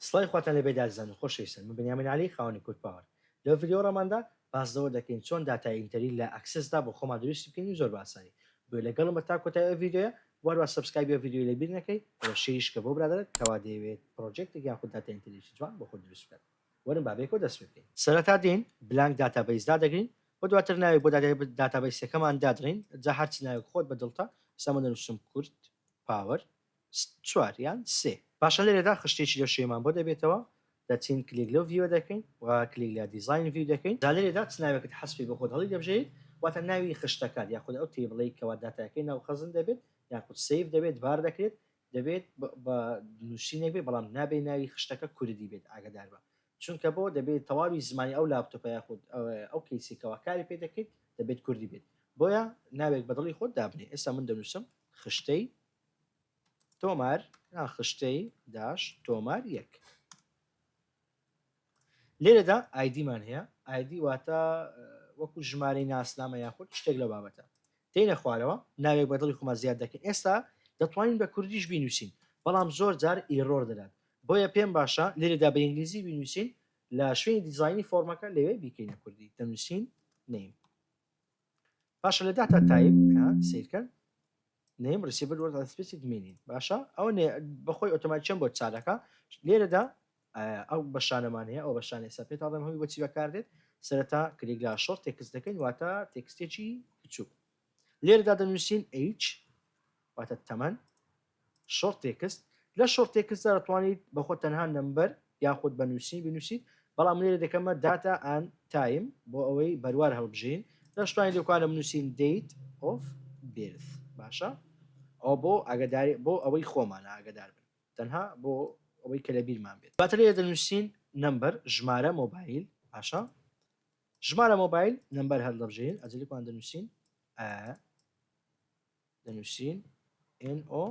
سڵای خواتان لێ بێت ئازیزانی خۆشەویستن من بنیامین عەلی خاوەنی کورد پاوەر لەو ڤیدیۆ ڕاماندا باس لەوە دەکەین چۆن داتای ئینتەری لە ئەکسس دا بۆ خۆمان دروستی بکەین زۆر بە ئاسانی گوێ لەگەڵم بە تا کۆتای ئەو ڤیدیۆیە واروا سەبسکایبی ئەو ڤیدیۆی لە بیر نەکەی وە شەیریش کە بۆ برادەرت کەوا دەیەوێت پڕۆجێکتێک یان خود داتای ئینتەریەکی جوان بۆ خۆی دروست بکات وەرن با بەیەکەوە دەست پێ بکەین. سەرەتا دێین بلانک داتابەیس دادەگرین وە دواتر ناوێک بۆ داتابەیسەکەمان دادڕین جا هەرچ ناوێک خۆت بە دڵتە ئێستا من دەنوسم کورد پاوەر چوار یان سێ. پاشان لێرەدا خشتێکی لە شێمان بۆ دەبێتەوە، دەچین کلیک لەو ڤیوە دەکەین و کلیک لە دیزاین ڤیو دەکەین، جا لێرەدا چ ناوێکت حەز بکەیت بۆ خۆت هەڵیدەبژێریت، واتە ناوی خشتەکان یاخود ئەو تەیبڵەی کەوا داتاکەی ناو خەزن دەبێت یاخود سەیڤ دەبێت بار دەکرێت، دەبێت بە نوسینێک بێت بەڵام نابێت ناوی خشتەکە کوردی بێت ئاگەداربە چونکە بۆ دەبێت تەواوی زمانی ئەو لاپتۆپە یاخود ئەو کەیسەی کەوا کاری پێ دەکەیت دەبێت کوردی بێت بۆیە ناوێک بە دڵی خۆت دابنێ ئێستا من دەنوسم خشتەی تۆمار یان خشتەی داش تۆمار یەک لێرەدا ئایدیمان هەیە ئایدی واتە وەکو ژمارەی ناسنامە یاخود شتێک لە بابەتە دێنە خوارەوە ناوێک بە دڵی خۆمان زیاد دەکەین ئێستا دەتوانین بە کوردیش بینوسین بەڵام زۆر جار ئیرۆر دەدات بۆیە پێم باشە لێرەدا بە ئینگلیزی بینوسین لە شوێنی دیزایانی فۆرمەکە لەوێ بیکەینە کوردی دەنووسین نیم باشە لە داتا تایپ سیرکە نیم ریسیڤەر وەرد سپیسیک مینین باشە ئەو بەخۆی ئۆتۆماتچەم بۆ چارەکە لێرەدا ئەو بەشانەمان هەیە ئەو بەشانێ سەر پێ تاڵم هەوی بۆچی بەکاردێت سەرەتا کلیگلا شۆر تێکس دەکەین واتە تێکستێکی بچوو لێرەدا دەنووسین H واتە تەمەن شۆرت تێکست، لە شۆرت تێکستدا دەتوانیت بە خۆت تەنها نەمبەر یاخود بە نووسین بنووسیت، بەڵام من لێرە دەکەمە Data and Time بۆ ئەوەی بەروار هەڵبژێین، لە شتانی لێکۆڵینەوە بنووسین Date of Birth باشە ئەوە بۆ ئاگەداری بۆ ئەوەی خۆمانە ئاگەدار بن تەنها بۆ ئەوەی کە لە بیرمان بێت، دواتر لێرە دەنووسین نەمبەر ژمارە مۆبایل باشە ژمارە مۆبایل نەمبەر هەڵدەبژێرین ئەجەلیکمان دەنووسین ئە. دەنووسین NO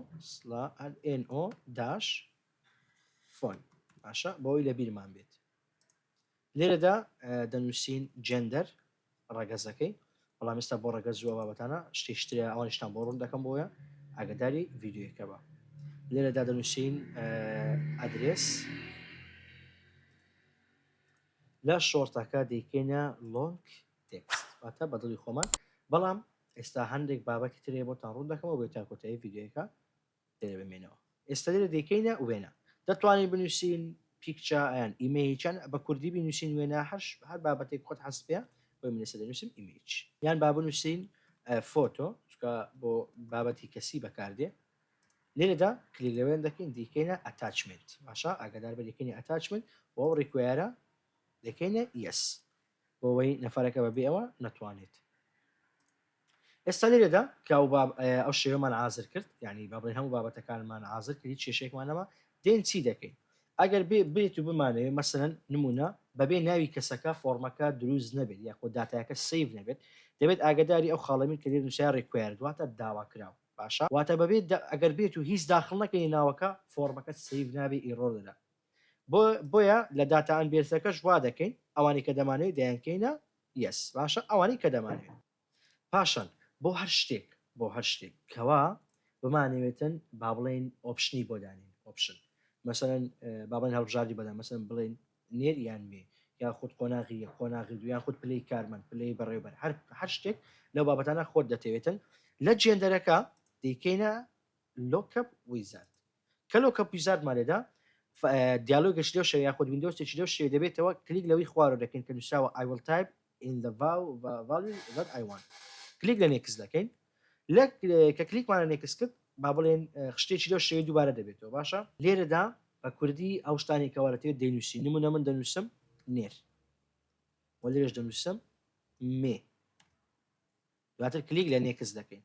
NO داش فۆن باشە بۆی لە بیرمان بێت لێرەدا دەنووسین جندەر ڕەگەزەکەی بەڵام ئێستا بۆ ڕەگەز زووە بابەتانە شتێشترە ئەوانشتان بۆ ڕوون دەکەم بۆیە ئاگداری ڤیددیوەکە بە لێرەدا دەنووسین ئەدرێس لە شۆرتەکە دەیکەینە لۆنک تێکست، واتە بە دڵی خۆمان، بەڵام ئێستا هەندێک بابەتی تر هەیە بۆتان ڕوون دەکەمەوە بۆیە تا کۆتایی ڤیدیۆیەکە لێرە بمێنەوە ئێستا لێرە دەیکەینە وێنە دەتوانین بنووسین پیکچە یان ئیمەیج یان بە کوردی بنووسین وێنە هەر هەر بابەتێک خۆت حەست پێ بۆی من ئێستا دەنووسم ئیمەیج یان با بنووسین فۆتۆ چکە بۆ بابەتی کەسی بەکاردێ لێرەدا کلیک لەوێن دەکەین دیکەینە ئەتاچمنت باشە ئاگادار بە دیکەینە ئەتاچمنت بۆ ئەو ڕیکوێرە دەکەینە یەس بۆوەی نەفەرەکە بە بێ ئەوە نەتوانێت. ئێستا لێرەدا کە ئەو باب ئەو شێوەمان عازر کرد یعنی با بڵێن هەموو بابەتەکانمان عازر کرد هیچ کێشەیەکمان نەما دێن چی دەکەین ئەگەر بێ بێت و بمانەوێت مەسەن نمونە بەبێ ناوی کەسەکە فۆرمەکە دروست نەبێت یاخۆ داتایەکە سیڤ نەبێت دەبێت ئاگداری ئەو خاڵەمین کە لێ نووسای ڕیکوایرد واتە داوا کراوە باشە واتە بەبێت ئەگەر بێت و هیچ داخڵ نەکەی ناوەکە فۆرمەکە سیڤ نابێت ئیڕۆر دەدات بۆ بۆیە لە داتا ئەنبێرسەکەش وا دەکەین ئەوانەی کە دەمانەوێت دەیانکەینە یەس باشە ئەوانەی کە دەمانەوێت پاشان بۆ هەر شتێک بۆ هەر شتێک کەوا بمانەوێتن با بڵێن ئۆپشنی بۆ دانین ئۆپشن مەسەن بابن هەڵبژاردی بەدا مەسەن بڵێن نێر یان مێ یا خود قۆناغی یە قۆناغی دویان خود پلی کارمەند پلی بەڕێوبەر هەر هەر شتێک لەو بابەتانە خۆت دەتەوێتن لە جێندەرەکە دەیکەینە لۆکەپ ویزارد کەلۆ کە پیزارتمان لێدا دیالۆگێکی لەو شێوەیە یاخود ویندۆزێکی لەو شێوەیە دەبێتەوە کلیک لەوەی خوارەوە دەکەین کە نووسراوە I will type in the val- va- value that I want کلیک لە نێکس دەکەین لە کە کلیکمانە نێکس کرد با بڵێن اه، شتێکی لەو شێوەی دووبارە دەبێتەوە باشە لێرەدا بە کوردی ئەو شتانی کەوا لەتێ دەینووسی نمونە من دەنووسم نێر و لێرەش دەنووسم مێ دواتر کلیک لە نێکس دەکەین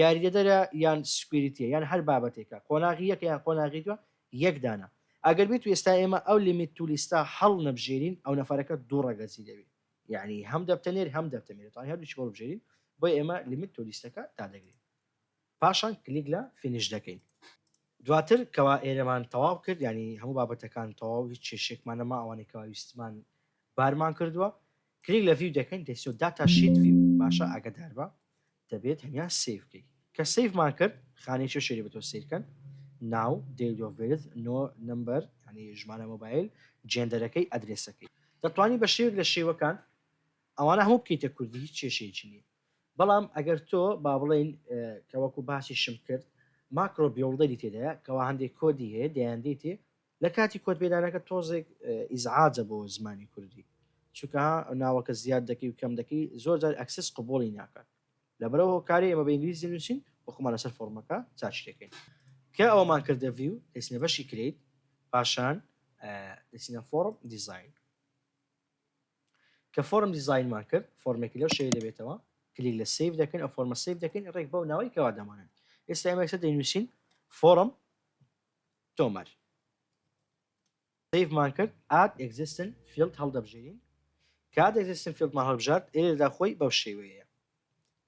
یاریدەدەرە یان سکویریتیە یان هەر بابەتێکە قۆناغی یەکە یان قۆناغی دووە یەک دانە ئەگەر بیت و ئێستا ئێمە ئەو لیمیت تو لیستە هەڵنەبژێرین ئەو نەفەرەکە دوو ڕەگەزی دەبی یانی هەم دەبتە نێر هەم دەبتە مێرتانی هەردووچی هەڵبژێرین بۆ ئێمە لیمیت تو لیستەکە دادەگرین پاشان کلیک لە فینیش دەکەین دواتر کەوا ئێرەمان تەواو کرد ینی هەموو بابەتەکان تەواو هیچ چێشێکمان نەما ئەوانەی کەوا ویستمان بارمان کردووە کلیک لە ڤیو دەکەین دەسۆ داتا شیت ڤیو باشە ئاگدار بە دەبێت تەنیا سەیڤ کەی کە سەیڤمان کرد خانەی چێ شێری بە تۆ سەیر کەن ناو دەیت ئۆف بێرث نۆ نەمبەر یانی ژمارە مۆبایل جێندەرەکەی ئەدرێسەکەی دەتوانی بە شێوێک لە شێوەکان ئەوانە هەموو بکەیتە کوردی هیچ کێشەیەکی نییە بەڵام ئەگەر تۆ با بڵێین کە وەکو باسیشم کرد ماکرۆ بیوڵدەری تێدایە کەوا هەندێک کۆدی هەیە دەیان دێتێ لە کاتی کۆد پێدانەکە تۆزێک ئیزعاجە بۆ زمانی کوردی چونکە ناوەکە زیاد دەکەی و کەم دەکەی زۆر جار ئەکسس قبوڵی ناکات لەبەرەوە هۆکاری ئێمە بە ئینگلیزی دەنووسین و خۆمان لەسەر فۆڕمەکە چاچ دەکەین کە ئەوەمان کردە ڤیو دەچینە بەشی کرێیت پاشان دەچینە فۆڕم دیزاین کە فۆرم دیزاینمان کرد فۆرمێکی لەو شێوی دەبێتەوە کلیک لە سیف دەکەین ئە فۆرمە سیف دەکەین ڕێک بەو ناوەی کەوا دەمانن ئێستا ئێمەسە دەینووسین فۆرم تۆمار سەیڤمان کرد ئاد ئێکزیستن فیڵد هەڵدەبژێرین کات ئێکزیستن فیڵدمان هەڵبژارد ئێرێدا خۆی بەو شێوەیەیە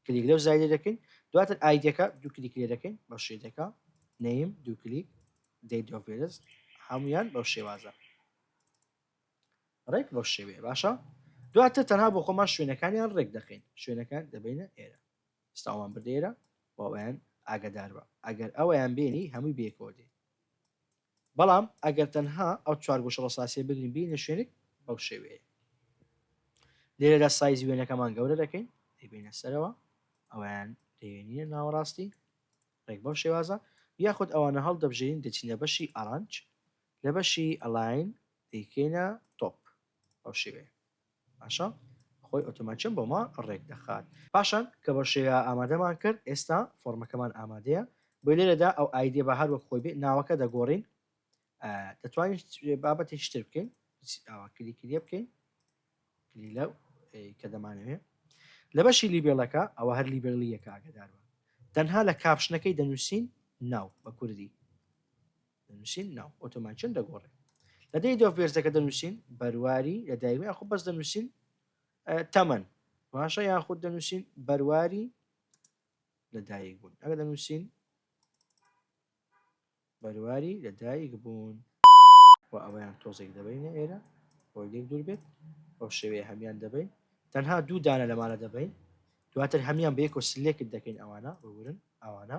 کلیک لەو زایدە دەکەین دواتر ئایدەکە دوو کلیک لێ دەکەین بەو شێدەکە نەیم دوو کلیک دەیدۆڤێرز هەمویان بەو شێوازە ڕێک بەو شێوەیە باشە دواتر تەنها بۆ خۆمان شوێنەکانیان ڕێک دەخین شوێنەکان دەبینە ئێرە سڵاومان بردێرە و ئەویان ئاگادار بە ئەگەر ئەویان بێنی هەمووی بێکەوە دێ بەڵام ئەگەر تەنها ئەو چوار گۆشە ڕساسیە بگرین بینە شوێنێک بەو شێوەیە لێرەدا سایزی وێنەکەمان گەورە دەکەین دەبینە سەرەوە ئەویان دەێنە ناوەڕاستی ڕێک بەو شێوازە یاخود ئەوانە هەڵ دەبژێن دەچینە بەشی ئارانج لە بەشی ئەلاین دەیکەینە تۆپ ئەو شێوەیە باشە خۆی ئۆتۆماتیەن بۆمان ڕێک دەخات. پاشان کە بەو شێوەیە ئامادەمان کرد ئێستا فۆڕمەکەمان ئامادەیە بۆی لێرەدا ئەو ئایدیە با هەر وەک خۆی بێ ناوەکە دەگۆڕین دەتوانین بابەتێکی تر بکەین ئاوا کلیکریە بکەین کلی لەو کە دەمانەوێ لە بەشی لیبێڵەکە ئەوە هەر لیبێڵیەکە ئاگدارە تەنها لە کاپشنەکەی دەنووسین ناو بە کوردی دەنووسین ناو ئۆتۆماتیکن دەگۆڕێ لە دەی دۆڤ بێرزەکە دەنووسین بەرواری لە دایک یاخود بەس دەنووسین تەمەن باشە یاخود دەنووسین بەرواری لە دایک بوون ئەگە دەنووسین بەرواری لە دایک بوون و ئەویان تۆزێک دەبینە ئێرە بۆ لێک دوور بێت ئەو شێوەیە هەمان دەبین تەنها دوو دانە لەمانە دەبین دواتر هەمان بەیەکۆ سلێکت دەکەین ئەوانە ببورن ئەوانە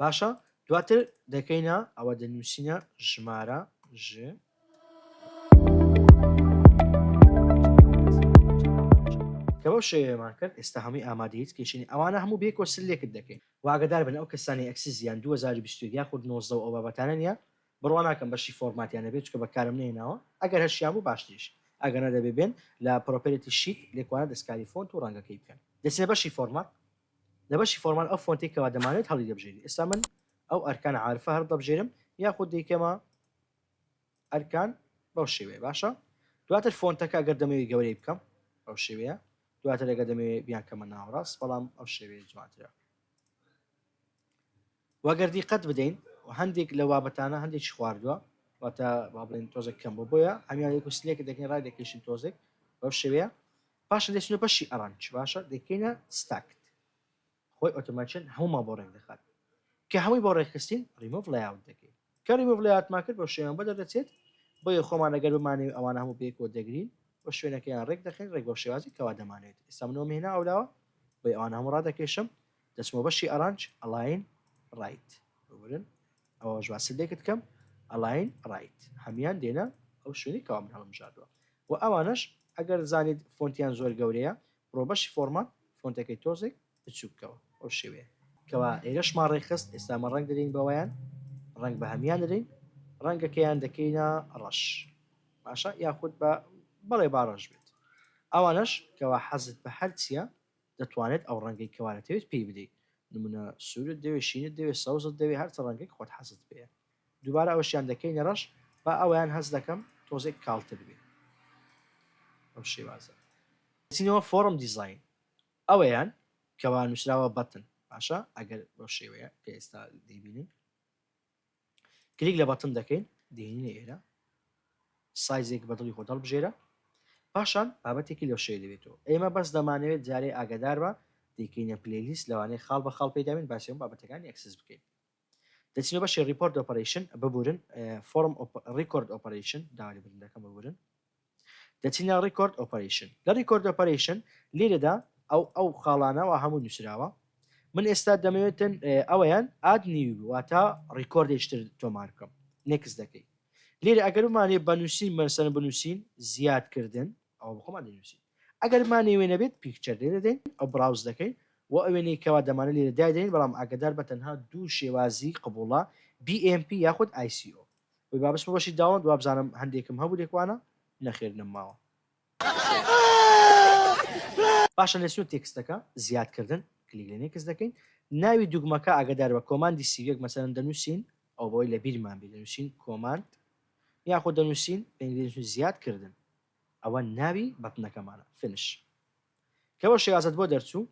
باشە دواتر دەکەینە ئەوە دەنووسینە ژمارە ژ کەەوە شێوێمان کرد ئێستا هەمووی ئامادەیت کێشنی ئەوانە هەموو بێ کۆسل لێکت دەکەین واگەدار بن ئەو کەسانی ئەکسی زیان 2020 یا خود نۆزە و ئەو بابەتانە نیە بڕوا ناکەم بەشی فۆرماتیان نەبێت چکە بەکارم نێناوە ئەگەر هەشیان بوو باشتریش ئەگەنە دەبێ بێن لە پرۆپێتی شیت لێکوانە دەستکاری فۆنت و ڕەنگەکەی بکەن دەسێ بەشی فۆرمات لە بەشی فۆرمان ئەو فۆنتەی کەوا دەمانەوێت هەڵیدەبژێری ئێستا من ئەو ئەرکان عارفە هەردەبژێرم یاخود دەیکەمە ئەرکان بەو شێوەیە باشە دواتر فۆنتەکە گەر دەمەوێت گەورەی بکەم ئەو شێوەیە دواتر ئەگە دەمەوێت بیانکەمە ناوەڕاست بەڵام ئەو شێوەیە جوانترە و گەر دیقەت بدەین هەندێک لەو بابەتانە هەندێکی خواردووە واتە با بڵێن تۆزێک کەم بۆ بۆیە هەمیان یەک و سلێک دەکەین ڕای دەکەیشن تۆزێک بەو شێوەیە پاشە دەچنە بەشی ئەرانج باشە دەکەینە ستاکت خۆی ئۆتۆماتچن هەموومان بۆ ڕێک دەخات کە هەمووی بۆ ڕێکخستین ڕیمۆڤ لایاوت دەکەین کاری مرۆڤ لە یادمان کرد بەم شێوەیان بەدەر دەچێت، بۆیە خۆمان ئەگەر بمانەوێت ئەوانە هەموو بەیەکەوە دەگرین و شوێنەکەیان رێک دەخەین، رێک بەو شێوازەی کەوا دەمانەوێت. ئێستا من ئەوەم هێنا ئەولاوە، بۆیە ئەوانە هەموو رادەکێشم، دەچمەوە بەشی ئەرانج، ئەلاین رایت. ببورن ئەوەش با سلێکت کەم، ئەلاین رایت. هەموویان دێنە ئەو شوێنەی کەوا من هەڵمبژاردووە و ئەوانەش ئەگەر زانیت فۆنتیان زۆر گەورەیە، بڕۆ بەشی فۆرمات، فۆنتەکەی تۆزێک بچوکەوە ئەو شێوەیە کەوا ئێرەشمان ڕێکخست ئێستامە ڕەنگ دەدەین بەوەیان ڕەنگ بە هەمان دەدەین ڕەنگەکەیان دەکەینە ڕەش باشە یاخود بە بەڵێ با ڕەش بێت ئەوانەش کەوا حەزت بە هەرچیە دەتوانێت ئەو ڕەنگەی کەوارەتەوێت پێی بدەیت نمونە سوورت دەوێت شینت دەوێت سەوزت دەوێت هەرچە ڕەنگێک خۆت حەزت پێ دووبارە ئەوشیان دەکەینە ڕەش با ئەویان هەز دەکەم تۆزێک کاڵتر بێت ئەو شێوازە چینەوە فۆرم دیزین ئەوەیان کەوا نوسراوە بەتن باشە ئەگەر بەو شێوەیە کە ئێستا دەیبینن کلیک لە بەتن دەکەین دێنینە ئێرە سایزێک بەدڵی خۆ دەڵبژێرە پاشان بابەتێکی لەو شێ دەبێتەوە ئێمە بەس دەمانەوێت جارێ ئاگادار بە دەیکەینە پلەیلیست لەوانەیە خاڵ بە خاڵ پێداوین باسیەوە بابەتەکانی ئەکسس بکەین دەچنە بەشی Report Operation ببورن Form Record Operation داوا لێبوردن دەکەم ببورن دەچینە Record Operation لە Record Operation لێرەدا ئەو ئەو خاڵانەوە هەموو نووسراوە من ئێستا دەمەوێتن ئەوەیان ئاد نیوی واتە ڕیکۆردێشتر تۆمار بکەم نێکس دەکەی لێرە ئەگەر بمانێ بەنووسین مەسەن بنووسین زیادکردن ئەوە بە خۆمان دەینووسین. ئەگەر مانێ وێنە بێت Picture لێ دەدەین و Browse دەکەین و ئەو وێنەی کەوا دەمانەوێت لێرە دایدەنێین بەڵام ئاگەدار بە تەنها دوو شێوازی قبوڵە BMP یاخود ICO. وەی با بچمە بەشی Download وابزانم هەندێکم هەبوو لێکوانە نەخێر نەمماوە. پاشان لە سنوور تێکستەکە، زیاد کردن، کلیک لە Next دەکەین. ناوی دوگمەکە ئاگەدار بە کۆماندی سیویەک مەسەلەن دەنووسین ئەوە بەوەی لە بیرمان بێت دەنووسین کۆماند یاخود دەنوسین بە ئینگلیزی دەنوسین زیاد کردن ئەوە ناوی بەتنەکەمانە Finish کەوە شێوازەت بۆ دەرچوو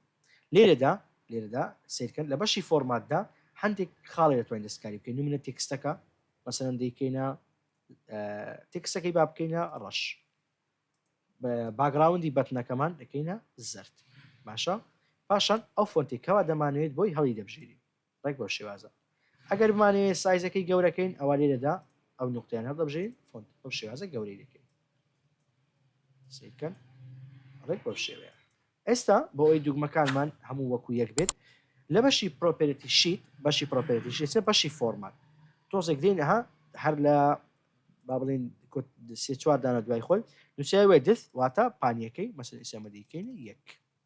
لێرەدا لێرەدا سیرکەن لە بەشی فۆرماتدا هەندێک خاڵی دەتوانین دەستکاری بکەین نمونە تێکستەکە مەسەرەن دەیکەینە تێکسەکەی با بکەینە ڕەش باگراوندی بەتنەکەمان دەکەینە زرد باشە پاشان ئەو فۆنتی کەوا دەمانوێت بۆی هەڵی دەبژێری ڕێک بەو شێوازە ئەگەر بمانەوێت سایزەکەی گەورەکەین ئەوا لێرەدا ئەو نوقتەیان هەڵدەبژێرین فۆنت بەو شێوازە گەورەی دەکەین سەیر بکەن ڕێک بەو شێوەیە ئێستا بۆ ئەوی دوگمەکانمان هەموو وەکو یەک بێت لە بەشی پرۆپێرەتی شیت بەشی پرۆپێرەتی شیت سێ بەشی فۆرمات تۆزێک دێین ئەها هەر لە با بڵێن کۆت سێ چوار دانە دوای خۆی نووسیای وێدث واتە پانیەکەی مەسەلەی سەمەدیکەین یەک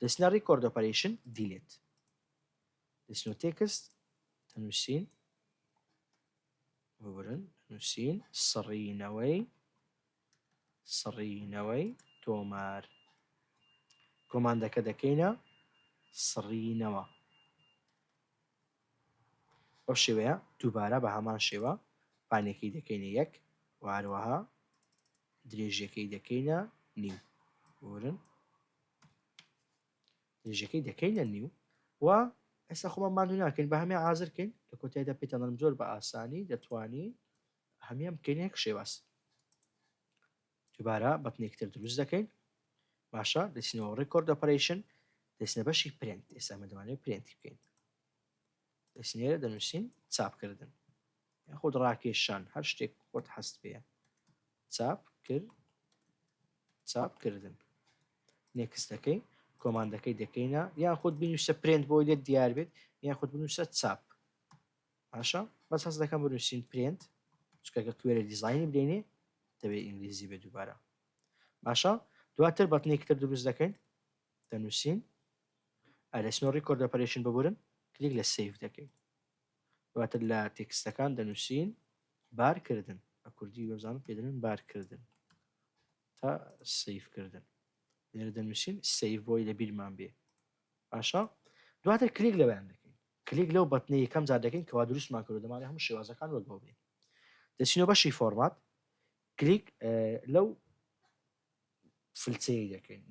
دەچنە Record Operation Delete دەچنەوە Text دەنووسین ببورن نووسین سڕینەوەی سڕینەوەی تۆمار کۆماندەکە دەکەینە سڕینەوە ئەو شێوەیە دووبارە بە هەمان شێوە پانێکی دەکەینە یەک واروەها درێژەکەی دەکەینە نیم ورن درێژەکەی دەکەینە نیو و ئێستا خۆمان ماندوو ناکەین بە هەمێ ئازر کەین لە کۆتایدا پێتەڵم زۆر بە ئاسانی دەتوانین هەمیان بکەین هەک شێواز دوبارە بەتنێکتر دروست دەکەین باشە دەچینەوە ڕێکۆرد ئۆپەرەیشن دەچنە بەشی پرنت ئێستا مەدەوانێت پرنتی بکەین پێشنیارێ دەنووسین چاپکردن یاخود ڕاکێشان هەر شتێک خۆت حەست پێە چاپ کرد چاپکردن نێکستەکەی کۆماندەکەی دەکەینە یان خود بنووسە پرنت بۆی لێت دیار بێت یان خود بنووسە چاپ باشە بەس هەست دەکەم بنووسین پرنت چکەکە کوێرە دیزایانی بدەینێ دەبێت ئینگلیزی بێ دووبارە باشە دواتر بەتنێکتر دروست دەکەین دەنوسین ئا دەچین و ڕیکۆرد ئۆپەرەیشن ببورن کلیک لە سەیڤ دەکەین دواتر لە تێکستەکان دەنوسین بار کردن بە کوردی وەبزانم پێ دەلێن بار کردن تا سەیڤ کردن لێرە دەنوسین سەیڤ بۆی لە بیرمان بێ باشە دواتر کلیک لەوەیان دەکەین کلیک لەو بەتنی یەکەم جار دەکەین کەوا دروستمان کرد دەمانێ هەموو شێوازەکان وەک بۆ بێ دەچینەوە بەشی فۆرمات کلیک لەو فل سەیری دەکەین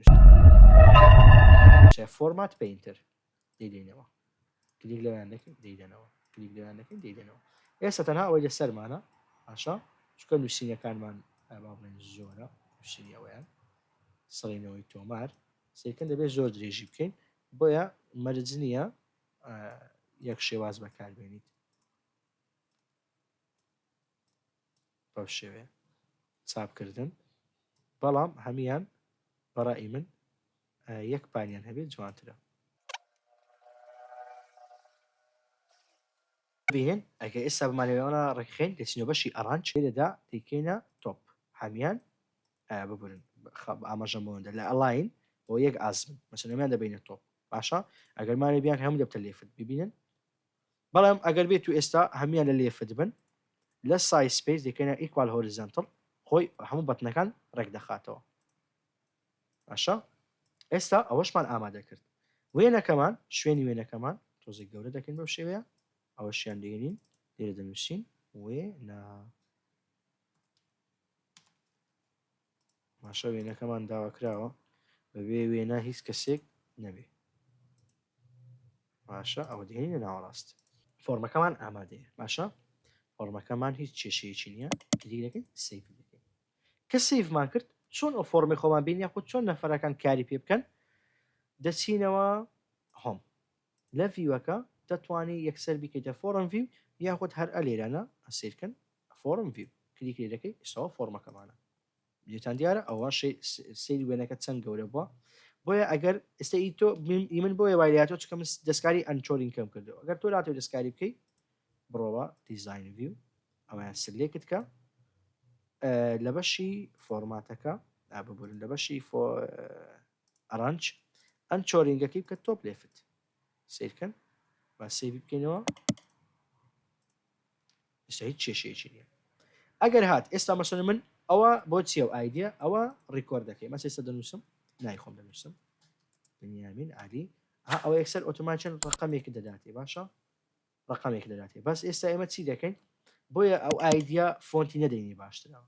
فۆرمات پینتر دەیدەینەوە کلیک لەوان دەکەین دەیدەنەوە کلیک لەوان دەکەین دەیدەنەوە ئێستا تەنها ئەوەی لە سەرمانە ئاشا چکە نووسینەکانمان ئاباڵێن زۆرە نووسینی ئەویان سڕینەوەی تۆمار سێکن دەبێت زۆر درێژی بکەین بۆیە مەرج نییە یەک شێواز بەکاربێنیت بەم شێوەیە چاپ کردن بەڵام هەموان بەڕائی من یەک پانیان هەبێت جوانترە. بینن ئەگەر ئێستا بمانەوێوانە ڕێکخین دەچینە بەشی ئەڕانج لێرەدا دەیکەینە تۆپ هەمیان ببورن ئاماژەم بۆندە لە ئەلاین بۆ یەک ئازمن مەسەنەمیان دەبینە تۆپ باشە ئەگەرمانە بیان هەموو دەبتە لێفت ببینن بەڵام ئەگەر بێتو ئێستا هەموویان لە لێفت بن لە سایز سپەیس دەیکەینە ئیکوال هۆریزەنتڵ خۆی هەموو بەتنەکان ڕێک دەخاتەوە باشە ئێستا ئەوەشمان ئامادە کرد وێنەکەمان شوێنی وێنەکەمان تۆزێک گەورە دەکەین بەو شێوەیە ئەوەشیان دێنین لێرە دەنووسین وێ نا باشە وێنەکەمان داواکراوە بەبێ وێنە هیچ کەسێک نەبێ باشە ئەوە دێنینە ناوەڕاست فۆرمەکەمان ئامادەیە باشە فۆرمەکەمان هیچ کێشەیەکی نییە کلیک دەکەین سەیڤ دەکەین کە سەیڤمان کرد چۆن ئەو فۆرمی خۆمان بین یاخود چۆن نەفەرەکان کاری پێ بکەن دەچینەوە هۆم لە ڤیوەکە دەتوانی یەکسەر بیکەیتە فۆڕم ڤیو یاخود هەر ئە لێرەنا سەیرکەن فۆڕم ڤیو کلیک لێ دەکەی ئیستەوە فۆڕمەکەمانە بینیتان دیارە ئەوە سەیری وێنەکە چەند گەورە بووە بۆیە ئەگەر ئێستا ئی تۆ ئی من بۆیە وای لاتۆ چکە من دەستکاری ئەنچۆرین کەم کردەوە ئەگەر تۆ لاتۆ دەستکاری بکەی بڕۆوە دیزاین ڤیو ئەویان سلێکت کە لە بەشی فۆرماتەکە ببورن لە بەشی ئەرەنچ ئەم چۆرینگەکەی بکە تۆپ لێفت سیرکەن با سێوی بکەینەوە ئێستا هیچ کێشەیەکی نییە ئەگەر هات ئێستا مەسەر من ئەوە بۆ چیە و ئایدە ئەوە ڕیکۆردەکەی مە ئێستا دەنووسم نایخۆم دەنووسم بنیامین علی ئەوە یەکسەر ئۆتۆماچەن ڕقەمێکی دەداتێ باشە ڕقەمێک دەداتێ بەس ئێستا ئێمە چی دەکەین بۆیە ئەو ئایدیا فۆنتی نەدەینی باشترەوە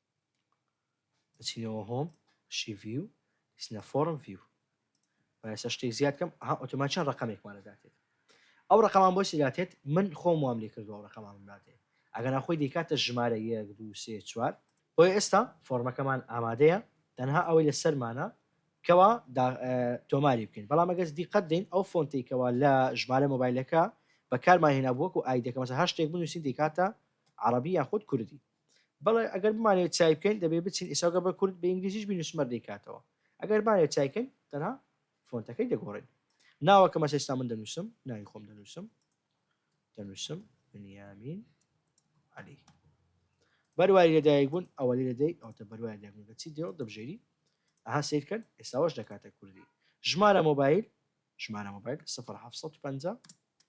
دەچینەوە هۆم شی ڤیو دەچینە فۆرم ڤیو مایەسە شتێک زیاد کەم ها ئۆتۆمان چەند ڕقمێکمان دەداتێت ئەو ڕقمان بۆ سیداتێت من خۆم وام لێ کردو ئەو ڕقمان داتێت ئەگەنا خۆی دەیکاتە ژمارە یەک دو سێ چوار بۆیە ئێستا فۆرمەکەمان ئامادەیە تەنها ئەوەی لە سەرمانە کەوا دا تۆماری بکەین بەڵام ئەگەر دیقەت دەین ئەو فۆنتەی کەوا لە ژمارە مۆبایلەکە بەکارمان هێنابوو وەکو ئایدەکە مەسە هەر شتێک بنووسین دەیکاتە عەڕەبی یاخود کوردی بەڵێ ئەگەر بمانەوێت چای بکەین دەبێت بچین ئێستا گەر بە کورد بە ئینگلیزیش بینووسین مەر دەیکاتەوە ئەگەر بمانەوێت چای بکەین تەنها فۆنتەکەی دەگۆڕین ناوەکەم ئەسە ئێستا من دەنووسم ناوی خۆم دەنووسم دەنووسم بنیامین عەلی بەرواری لەدایک بوون ئەوە لێ دەدەی ئەوتە بەروای دەبوونگە چی دێ دەبژێری ئەها سیرکەن ئێستاوەش دەکاتە کوردی ژمارە مۆبایل ژمارە مۆبایل 1950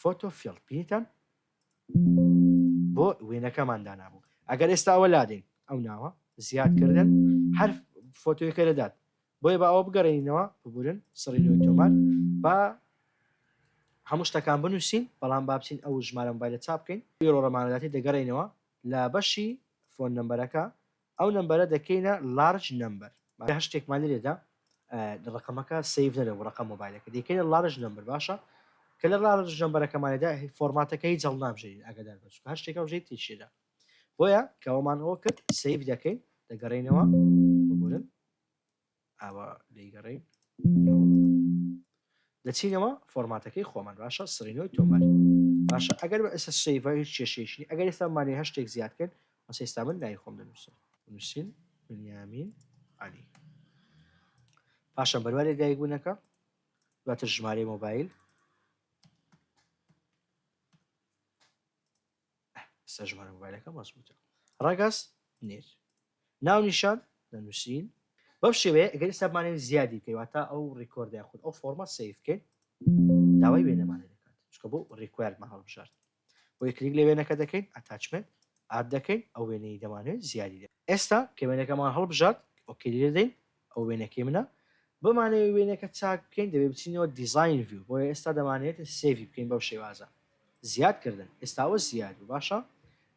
فۆتۆ فیڵد بینیتان بۆ وێنەکەمان دانابوو ئەگەر ئێستا ئەوە لادەین ئەو ناوە زیاد کردن هەر فۆتۆیەکە دەدات بۆیە بە ئەوە بگەڕێنینەوە ببورن سڕینەوەی تۆمار با هەموو شتەکان بنووسین بەڵام بابچین ئەو ژمارە مبایلە چاپ بکەین بیرۆڕەمانەداتی دەگەڕێنەوە لە بەشی فۆن نمبەرەکە ئەو نەمبەرە دەکەینە لارج نەمبەر واتە هەر شتێکمان لێرە دا ڕەقەمەکە سەیڤ نەبێ بۆ ڕەقەم مۆبایلەکە دەیکەینە لارج نەمبەر باشە کە لە لارج نەمبەرەکەمانێدا فۆرماتەکە هیچ هەڵنابژێرین ئاگادار بە چونکە هەر شتێکە بژێت تێشێدا بۆیە کەوەمان ئەوە کرد سەیڤ دەکەین دەگەڕێینەوە ببورن ئاوا دەیگەڕێین لۆ دەچینەوە فۆرماتەکەی خۆمان باشە سرینەوەی تۆمار باشە ئەگەر بە ئێستا سیڤ هیچ کێشەیەکی ئەگەر ئێستا مانێ هەشتێک زیاد کرد ئەس ئێستا من ناوی خۆم دەنووسم نووسین بنیامین علی پاشە بەروارێ دایک بوونەکە دواتر ژمارەی مۆبایل ئستا ژمارە مۆبایلەکەم ڕەسم وتە ڕەگەز نێر ناونیشان دەنووسین بەم شێوەیە ئەگەر ئستا بمانێن زیادی بکەی واتا ئەو ڕیکۆرد یاخود ئەو فۆرمە سیف بکەین داوای وێنەمانێ دەکات چکە بۆ ڕیکوایرمان هەڵبژارد بۆ کلیک لە وێنەکە دەکەین ئەتاچمنت ئاد دەکەین ئەو وێنەی دەمانێت زیادی دە ئێستا کە وێنەکەمان هەڵبژارد ئۆکەی لێدەین ئەوە وێنەکەی منە. بمانەوێت وێنەکە چاک بکەین دەبێت بچینەوە دیزاین ڤیو بۆیە ئێستا دەمانەوێت سێڤی بکەین بەو شێوازە. زیاد کردن. ئێستا ئەوە زیاد بوو باشە.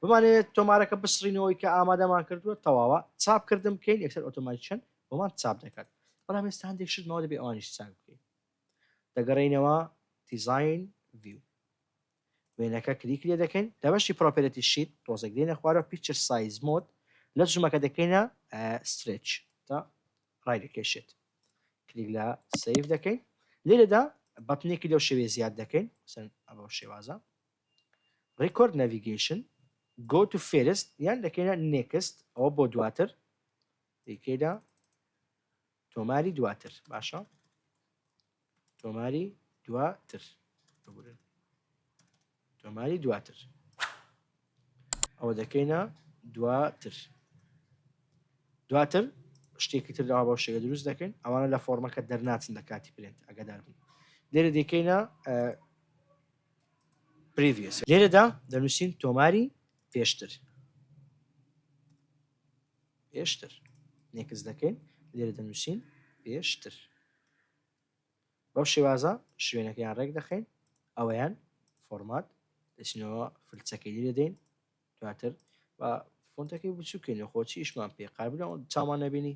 بمانەوێت تۆمارەکە بسڕینەوەی کە ئامادەمان کردووە تەواوە چاپ کردن بکەین یەکسەر ئۆتۆماتیکەن بۆمان چاپ دەکات بەڵام ئێستا هەندێک شت ماوە دەبێت ئەوانیش چاک بکەین. دەگەڕێینەوە دیزاین ڤیو. وێنەکە کلیک لێ دەکەین لە بەشی پرۆپێرتی شیت تۆزێک دێنە خوارەوە پیکچر سایز مۆد لە جمەکە دەکەینە سترێچ تا ڕای دەکێشێت کلیک لە سیف دەکەین لێرەدا بەتنێکی لەو شێوێ زیاد دەکەین سەن ئەو شێوازە ڕیکۆرد نەڤیگەیشن گۆ تو فێرست یان دەکەینە نێکست ئەوە بۆ دواتر دیکەدا تۆماری دواتر باشە تۆماری دواتر ببورن تۆماری دواتر ئەوە دەکەینە دواتر دواتر شتێکی تر داوا بە شێگە دروست دەکەین ئەوانە لە فۆرمەکە دەرناچن لە کاتی پرێنت ئەگەدار بن لێرە دەکەینە پریڤس لێرەدا دەنووسین تۆماری پێشتر پێشتر نێکست دەکەین لێرە دەنووسین پێشتر بەو شێوازە شوێنەکەیان ڕێک دەخەین ئەوەیان فۆرمات دەچینەوە فلچەکەی لێ دەدەین دواتر بە فۆنتەکەی بچووکەین خۆچی ئیشمان پێ قابلەوە چامان نەبینی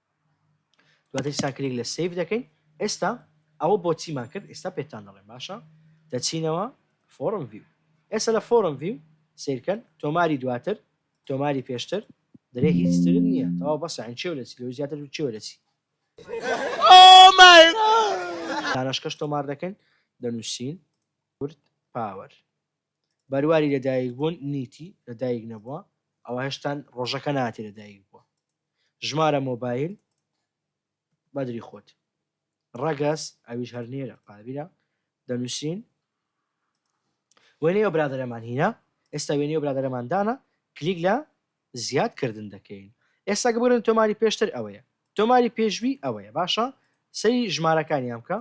دواتر سا کلیک لە سەیڤ دەکەین ئێستا ئەوە بۆچیمان کرد ئێستا پێتان دەڵێم باشە دەچینەوە فۆرم ڤیو ئێستا لە فۆرم ڤیو سیرکەن تۆماری دواتر تۆماری پێشتر درێ هیچ تر نییە تەوا بەسە ئەین چێو دەچی لەو زیاتر و چێو دەچی دانشکەش تۆمار دەکەین دەنووسین کورد پاوەر بەرواری لەدایک بوون نیتی لەدایک نەبووە ئەوە هێشتان ڕۆژەکە ناتی لەدایک بووە ژمارە مۆبایل بەدری خۆت ڕەگەز ئەویش هەر نێرە قابیرە دەنووسین وێنەی ئەو برادەرەمان هینە ئێستا وێنەی ئەو برادەرەمان دانا کلیک لە زیاد کردن دەکەین ئێستا گەبرن تۆماری پێشتر ئەوەیە تۆماری پێشوی ئەوەیە باشە سەری ژمارەکانیان بکە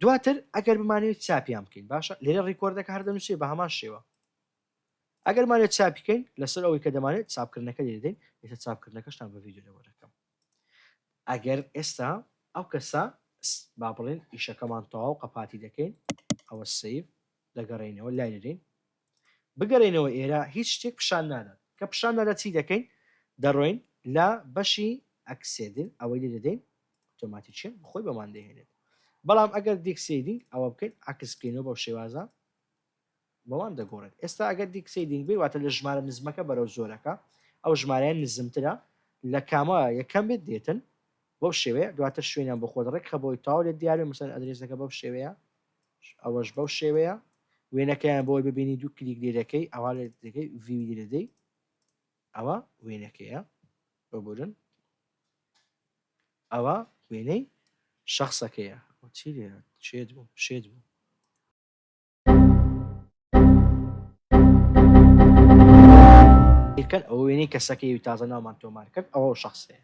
دواتر ئەگەر بمانوێت چاپیان بکەین باشە لێرە ڕیکۆردەکە هەر دەنووسێ بە هەمان شێوە ئەگەر بمانەوێت چاپی کەین لەسەر ئەوەی کە دەمانێت چاپکردنەکە لێ دەدەین ئێستا چاپکردنەکەشتان بە ڤیدیۆ لەوە دەکەم ئەگەر ئێستا ئەو کەسە با بڵێن ئیشەکەمان تەواو قەپاتی دەکەین ئەوە سیف دەگەڕێنەوە لای دەدەین بگەڕێنەوە ئێرە هیچ شتێک پیشان نادات کە پیشان نادە چی دەکەین دەڕۆین لە بەشی ئەکسێدن ئەوەی لێ دەدەین ئۆتۆماتیکیان خۆی بەمان دەهێنێت بەڵام ئەگەر دیکسیدینگ ئەوە بکەین عکس بکەینەوە بەو شێوازە وەڵام دەگۆڕێت ئێستا ئەگەر دیکسەیدینگ بێت واتە لە ژمارە نزمەکە بەرەو زۆرەکە ئەو ژمارەیە نزمترە لە کامە یەکەم بێت دێتن بەو شێوەیە دواتر شوێنیان بۆ خۆت ڕێکخە بۆی تەواو لێت دیار بێت مەسەلەن ئەدرێسەکە بەو شێوەیە ئەوەش بەو شێوەیە وێنەکەیان بۆی ببینی دوو کلیک لێ دەکەی ئەوا لێ دەکەی ڤیوی لێ دەدەی ئەوە وێنەکەیە ببورن ئەوە وێنەی شخصەکەیە چی لێ شێت بوو شێت بوو کەن ئەو وێنەی کەسەکەی و تازە ناومان تۆمار کرد ئەوە شخصێ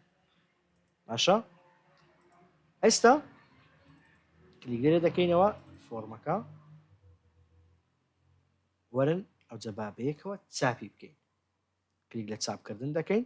باشە ئێستا کلیگەرە دەکەینەوە فۆرمەکە وەرن ئەو جەبابەیەکەوە چاپی بکەین کلیک لە چاپکردن دەکەین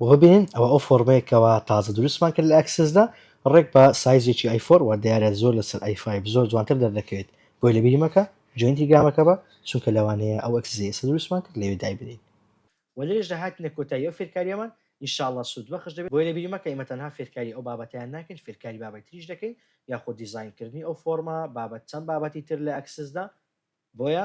و ببینین ئەوە ئەو فۆرمەیە کەوا تازە دروستمان کرد لە ئەکسس دا ڕێک بە سایزێکی ئای فۆر وە دیارە زۆر لەسەر ئای فایڤ زۆر جوانتر دەردەکەوێت بۆیە لەبیری مەکە جوێن تیلگرامەکە بە چونکە لەوانەیە ئەو ئەکسسەی ئێستا دروستمان کرد لەوێ دایبنێین وە لەوێشدا هاتینە کۆتایی ئەو فێرکاریەمان ان شاء اللە سود بەخش دەبێت بۆیە لەبیری مەکە ئێمە تەنها فێرکاری ئەو بابەتەیان ناکەین فێرکاری بابەی تریش دەکەین یاخۆ دیزاین کردنی ئەو فۆرمە بابەت چەند بابەتی تر لە ئەکسس دا بۆیە